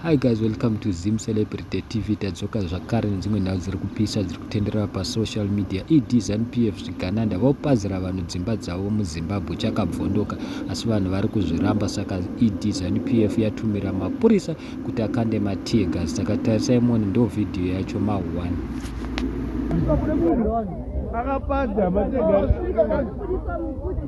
Hi guys, welcome to Zim Celebrity TV. Tadzoka zvakare nedzimwe nhau dziri kupisa dziri kutenderera pasocial media. ED ZanuPF zvigananda vopazira vanhu dzimba dzavo muZimbabwe chakabvondoka asi vanhu vari kuzviramba saka ED ZanuPF yatumira mapurisa kuti akande matear gas. Saka tarisai muone ndo video yacho ma 1. Akapadza matear gas.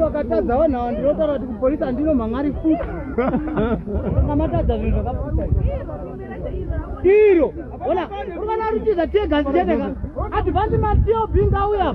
vakatadza vanhu ava ndinotaura kuti kupolisi handino mhangari futi anga matadza zvinhu zvakaputa iro ona uri vana rutiza tiegasi cheteka advanti matio bingauya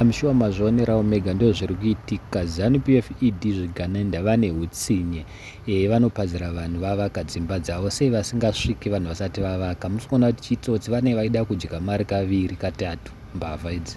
I'm sure mazvionerawo mega ndizvo zviri kuitika. Zanu PF ED zvigananda vane hutsinye. Eh vanopazira vanhu vavaka dzimba dzavo sei vasingasviki vanhu vasati vavaka. Musikuona kuti chitsotsi vane vaida kudya mari kaviri katatu mbavha idzi.